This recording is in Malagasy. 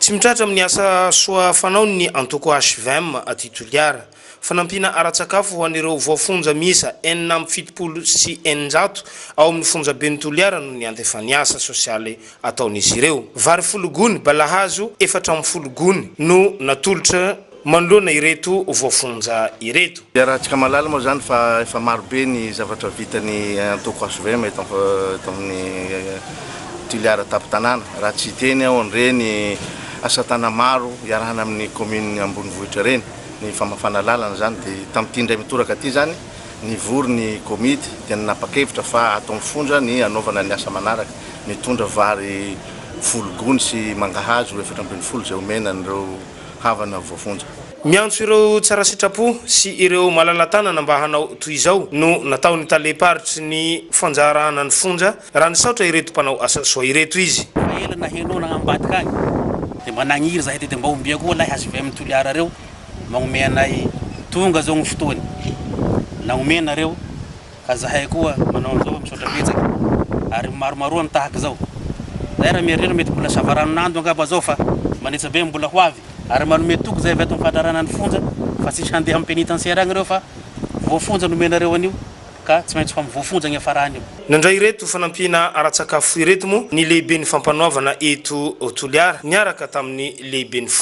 Tsy mitratra amin'ny asa soa fanaony ny antoko HVM aty Toliara. Fanampiana ara-tsakafo ho an'ireo voafonja miisa enina amby fitopolo sy eninjato ao amin'ny fonjaben'i Toliara no niantefan'ny asa sosialy ataon'izy ireo. Vary folo gony, balahazo efatra amby folo gony no natolotra. manoloana ireto voafonja ireto. Iarahantsika mahalala moa izany fa efa maro be ny zavatra vita ny antoko hvm eto amin'ny Toliara Tampon-tanàna. Raha tsy hiteny aho an'ireny asa tana maro iarahana amin'ny kaominina ambonivohitra ireny, ny famafana lalana izany dia tamin'ity indray mitoraka ity izany nivory ny komity dia nanapa-kevitra fa ato amin'ny fonja ny hanaovana ny asa manaraka, mitondra vary folo gony sy mangahazo efatra ambin'ny folo izay omena an'ireo. havana voafonja. Miantso ireo tsara sitrapo sy ireo malala-tanana mba hanao toy izao no nataon'ny talem-paritry ny fanjarahana ny fonja raha nisaotra ireto mpanao asa soa ireto izy. Efa ela naheno na ambadika any dia mba nagniry zahay tedy mba ombia koa lahy hvm Toliara reo magnomey anay tonga zao ny fotoany nagnomey nareo Ka zahay koa manao an'izao fa misaotra betsaka ary maromaroa ny tahaka izao. Zahay raha mieritreritra mety mbola savaranonando angamba zao fa manetsa be ny mbola ho avy ary manome toky zay avy ato amin'ny fandrarana ny fonja fa tsisy handeha amin'ny pénitentiaire agny ireo fa voafonja nomenareo an'io ka tsy maintsy ho voafonja niafarany io. Nandray ireto fanampiana ara-tsakafo ireto moa ny lehiben'ny fampanoavana eto Toliara niaraka tamin'ny lehiben'ny fonja.